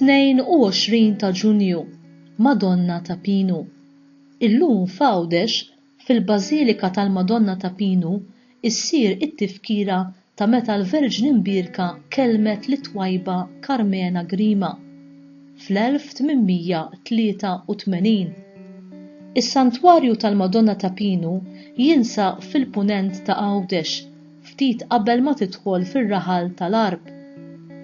22 ta' Ġunju, Madonna ta' Pinu. Illum f'Għawdex Fil-Bażilika tal-Madonna ta' Pinu ssir it-tifkira ta' meta l-Verġni Mbierka kellmet lit-twajba Karmena Grima fl-1883. Is-Santwarju tal-Madonna ta' Pinu jinsab fil-Punent ta' Għawdex ftit qabel ma tidħol fir-raħal tal-Għarb.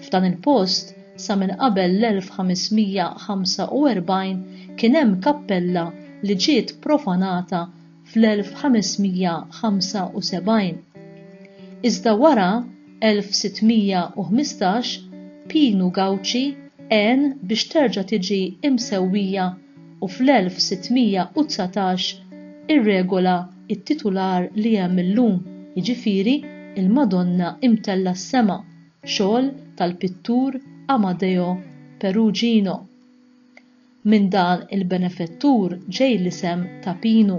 F'dan il-post, sa minn qabel l-1545 kien hemm kappella li ġiet profanata fl-1575. Iżda wara, 1615, Pinu Gauci għen biex terġa' tiġi imsewwija u fl-1619 irregola it-titular li hemm illum, jiġifieri l-Madonna Imtellgħa s-Sema, xogħol tal-pittur Amadeo Perugino. Minn dan il-benefettur ġej l-isem ta' Pinu.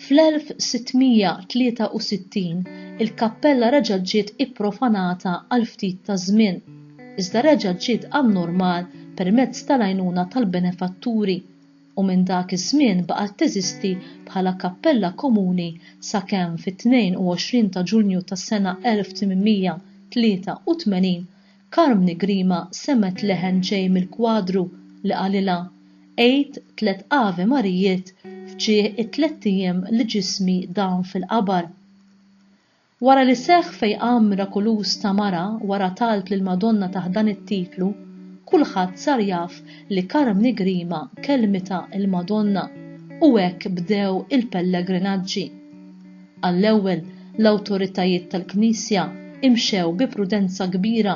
Fl-1663 il-kappella reġgħet ġiet ipprofanata għal ftit ta' żmien, iżda reġgħet ġiet għan-normal permezz tal-għajnuna tal-benefatturi. u minn dak iż-żmien baqgħet teżisti bħala kappella komuni sakemm fit-22 ta' Ġunju tas-sena 1883 Carmni Grima semgħet leħen ġej mill-kwadru li qalilha, Għidt tliet Ave Marijiet f'ġieħ it-tlett ijiem li ġismi dam fil-qabar. Wara li seħħ fejqan mirakuluż ta' mara wara talb lill-Madonna taħt dan it-titlu, kulħadd sar jaf li Karmni Grima kellmitha l-Madonna u hekk bdew il-pellegrinaġġi. Għall-ewwel, l-awtoritajiet tal-Knisja imxew bi prudenza kbira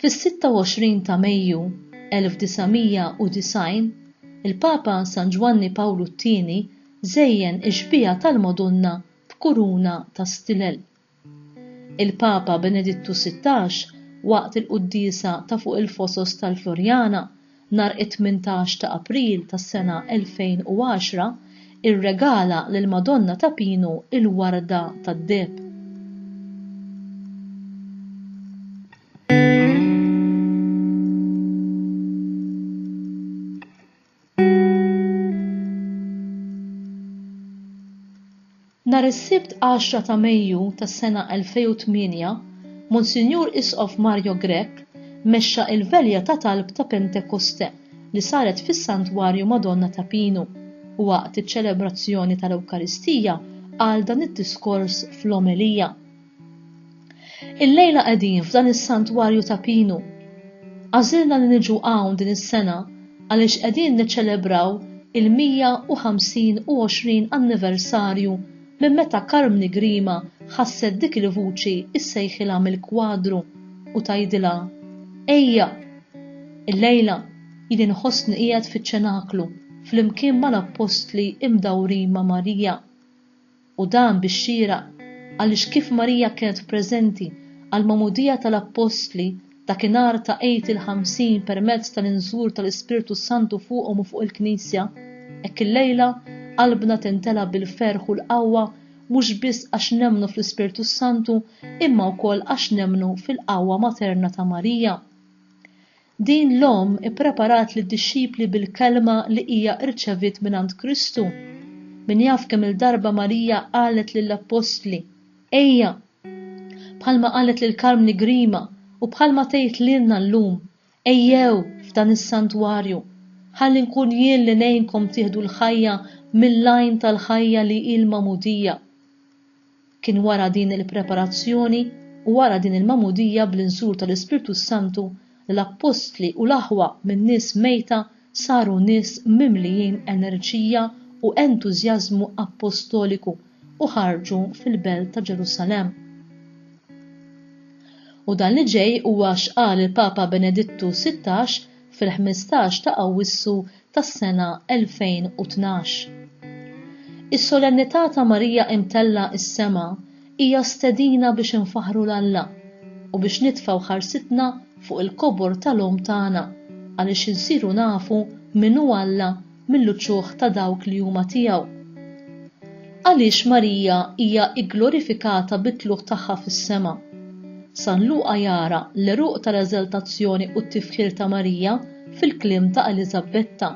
Fis-26 ta' Mejju 1990, il-Papa San Ġwanni Pawlu t-Tieni żejjen ix-xbieha tal-Madonna b'kuruna ta' stilel. Il-Papa Benedittu Sittax, waqt il-quddiesa ta' fuq il-fosos tal-Floriana, nhar it-tmintax ta' April tas-sena 2010, irregala lill-Madonna ta' Pinu l-warda tad-deheb. Nhar is-Sibt għaxra ta' Mejju tas-sena 2008, Monsinjur Isqof Mario Grech mexxa il-velja ta' talb ta' Pentekoste li saret fis-Santwarju Madonna ta' Pinu u waqt iċ-ċelebrazzjoni tal-Ewkaristija qal dan id-diskors fl-omelija. Illejla qegħdin f'dan is-santwarju ta' pinu. Għażilna li niġu hawn din is-sena għaliex qegħdin niċċelebraw il-125 anniversarju minn meta Karmni Grima ħasset dik il-vuċi ssejħilha mill-kwadru u tgħidilha, Ejja! Illejla jien inħossni qiegħed fiċ-ċenaklu flimkien mal-appostli imdawrin ma' Marija. u dan bix-xieraq għaliex kif Marija kienet preżenti għall-Magħmudija tal-Appostli dakinhar ta' Għid il-Ħamsin permezz tal-inżul tal-Ispirtu s-Santu fuqhom u fuq il-Knisja, hekk illejla qalbna timtela bil-ferħ u l-qawwa mhux biss għax nemmnu fl-Ispirtu s-Santu imma wkoll għax nemmnu fil-qawwa materna ta' Marija. Din l-omm ippreparat lid-dixxipli bil-kelma li hija rċeviet mingħand Kristu. Min jaf kemm-il darba Marija qalet lill-appostli, Ejja! Bħalma qalet lil Carmni Grima u bħalma tgħid lilna llum, Ejjew f'dan is-santwarju, ħalli nkun jien li ngħinkom tieħdu l-ħajja mill-għajn tal-ħajja li hi l-magħmudija. Kien wara din il-preparazzjoni u wara din il-magħmudija bl-inżul tal-Ispirtu s-Santu li l-appostli u l-aħwa minn nies mejta saru nies mimlijin enerġija u entużjażmu appostoliku u ħarġu fil-belt ta' Ġerusalemm. U dan li ġej huwa x'qal il-Papa Benedittu Sittax fil-ħmistax ta' Awwissu tas-sena 2012. Is-Solennità ta' Marija Imtellgħa s-Sema hija stedina biex infaħħru 'l Alla u biex nitfgħu ħarsitna fuq il-kobor tal-Omm tagħna għaliex insiru nafu min hu Alla mill-uċuħ ta' dawk li huma tiegħu. Għaliex Marija hija gglorifikata bit-tlugħ tagħha fis-sema? San Luqa jara l-għeruq tal-eżaltazzjoni u t-tifħir ta' Marija fil-kliem ta' Eliżabbetta,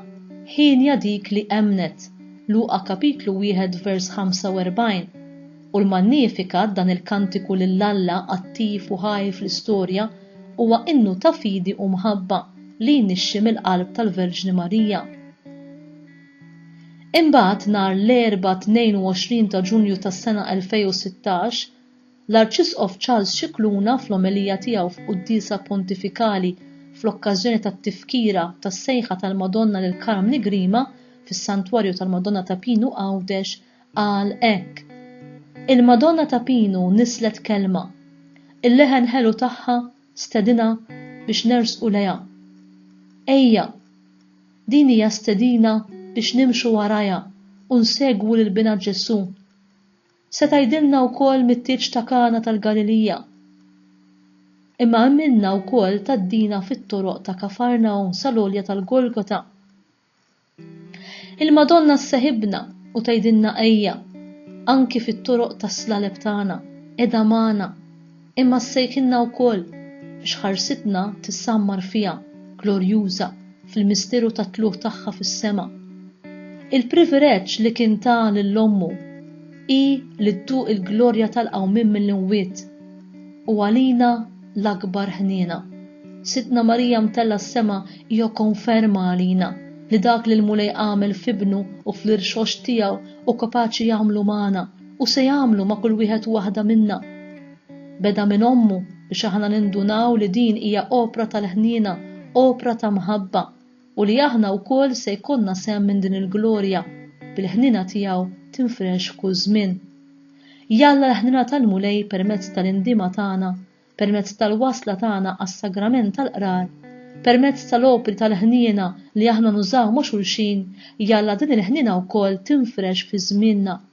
hienja dik li emmnet, Luqa kapitlu 1 vers 45, u l-Magnificat, dan il-kantiku lil Alla attiv u ħaj fl-istorja, huwa innu ta' fidi u mħabba li jnixxi mill-qalb tal-Verġni Marija. Imbagħad nhar l-Erbgħa 22 ta' Ġunju tas-sena 2016, L-Arċisqof Charles Scicluna fl-omelija tiegħu f'Quddiesa Pontifikali fl-okkażjoni tat-Tifkira tas-Sejħa tal-Madonna lil Karm Nigrima fis-Santwarju tal-Madonna ta' Pinu Għawdex qal hekk, Il-Madonna ta' Pinu nisslet kelma. Il-leħen ħelu tagħha stedinha biex nersqu lejha. Ejja! Din hija stedina biex nimxu warajha u nsegwu lil Binha Ġesù. Se tgħidilna wkoll mit-tieġ ta' Kana tal-Galilija, imma għamilna wkoll tgħaddina fit-toroq ta' Kafarnahum sal-għolja tal-Golgota. Il-Madonna sseħibna u tgħidilna ejja, anki fit-toroq tas-slaleb tagħna, qiegħda magħna. Imma ssejħilna wkoll biex ħarsitna tissammar fiha, glorjuża, fil-misteru tat-tlugħ tagħha fis-sema. Il-privireġġ li kien ta lil ommu hi li dduq il-glorja tal-qawmien mill-imwiet. U għalina l-akbar ħniena. Sidtna Marija mtellgħa s-sema hija konferma għalina li dak li l-Mulej għamel f'Ibnu u fl-irxoxt tiegħu hu kapaċi jagħmlu magħna, u se jagħmlu ma' kull wieħed u waħda minna. Beda minn ommu biex aħna nindunaw li din hija opra tal-ħniena, opra ta' mħabba, u li aħna wkoll se jkollna sehem minn din il-glorja, bil-ħniena tiegħu tinfrex f'kull żmien. Jalla l-ħniena tal-Mulej permezz tal-indiema tagħna, permezz tal-wasla tagħna għas-Sagrament tal-Qrar, permezz tal-opri tal-ħniena li aħna nużaw ma' xulxin, jalla din il-ħniena wkoll tinfrex fi żmienna.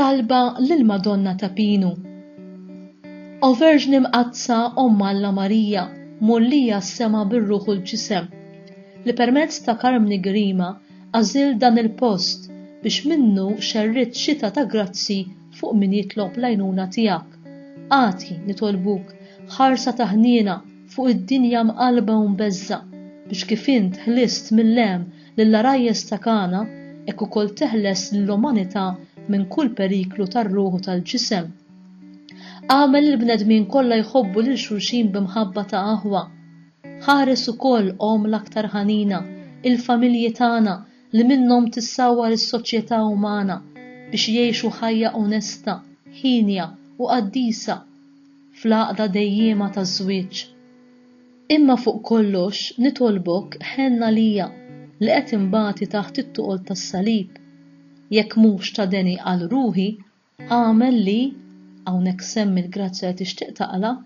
Talba lill-Madonna ta' Pinu O Verġni Mqaddsa Omm Alla Marija, mgħollija s-sema bir-ruħ u l-ġisem, li permezz ta' Karmni Grima għażilt dan il-post biex minnu xerridt xita ta' grazzi fuq min jitlob l-għajnuna tiegħek, agħti, nitolbuk, ħarsa ta' ħniena fuq id-dinja mqallba u mbeżżgħa, biex kif int ħlist mill-għem lill-għarajjes ta' Kana, hekk ukoll teħles lill-umanità minn kull periklu tar-ruħ u tal-ġisem. Agħmel lill-bnedmin kollha jħobbu lil xulxin bi mħabba ta' aħwa. Ħares ukoll, Omm l-aktar ħanina, il-familji tagħna li minnhom tissawwar is-soċjetà umana biex jgħixu ħajja onesta, hienja u qaddisa fl-għaqda dejjiema taż-żwieġ. Imma fuq kollox nitolbok ħenn għalija li qed inbati taħt it-tuqol tas-salib. Jekk mhux ta' deni għal ruħi, agħmel li, hawnhekk semmi l-grazzja li tixtieq taqla',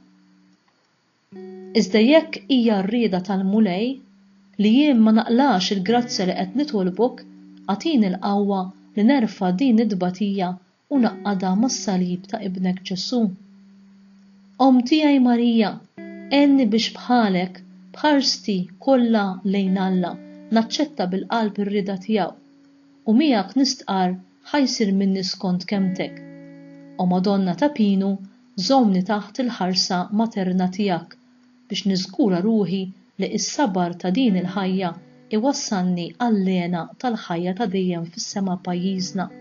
iżda jekk hija r-rieda tal-Mulej li jien ma naqlax il-grazzja li qed nitolbok, agħtini l-qawwa li nerfa' din it-tbatija u ngħaqqadha mas-salib ta' Ibnek Ġesù. Omm tiegħi Marija, għenni biex bħalek, b'ħarsti kollha lejn Alla, naċċetta bil-qalb ir-rieda tiegħu, u miegħek nistqarr ħa jsir minni skont kelmtek. O Madonna ta' Pinu, żommni taħt il-ħarsa materna tiegħek, biex niżgura ruħi li s-sabar ta' din il-ħajja iwassalni għall-hena tal-ħajja ta' dejjem fis-sema pajjiżna.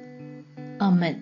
Amen.